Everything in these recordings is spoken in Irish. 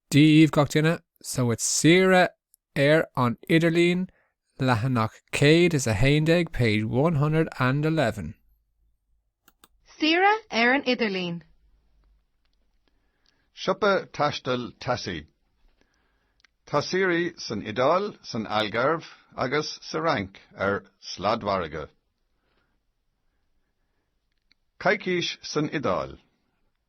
Dia daoibh gach duine so it saoire ar an idirlíon, leathanach céad is a haon déag, page one hundred and eleven. Saoire ar an idirlíon. Siopa taistil Tassie. Tá saoirí san Iodáil, san Algarve agus sa Fhrainc ar sladmhargadh. Coicís san Iodáil.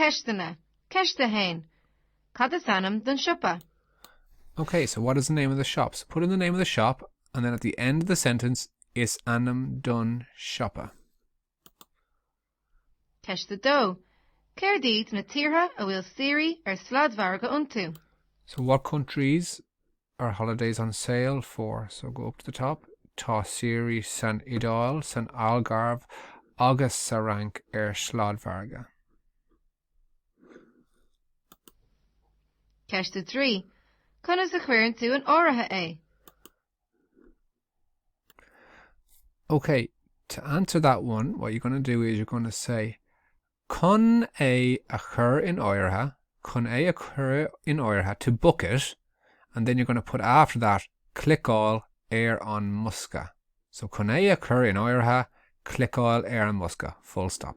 Ceisteanna, Ceist 1. Cad is ainm don siopa? Okay, so what is the name of the shop? So put in the name of the shop and then at the end of the sentence is ainm don siopa. Ceist 2. Céard iad na tíortha a bhfuil saoirí ar sladmhargadh iontu? So what countries are holidays on sail for, so go up to the top, Tá saoirí san Iodáil, san Algarve agus sa Fhrainc ar sladmhargadh. Ceist 3 Conas a chuireann tú in áirithe é? Ok, to answer that one, what you're going to do is you're going to say Chun é a chur in áirithe, chun é a chur in áirithe, to book it, and then you're going to put after that cliceáil ar an mbosca. So chun é a chur in áirithe, cliceáil ar an mbosca, full stop.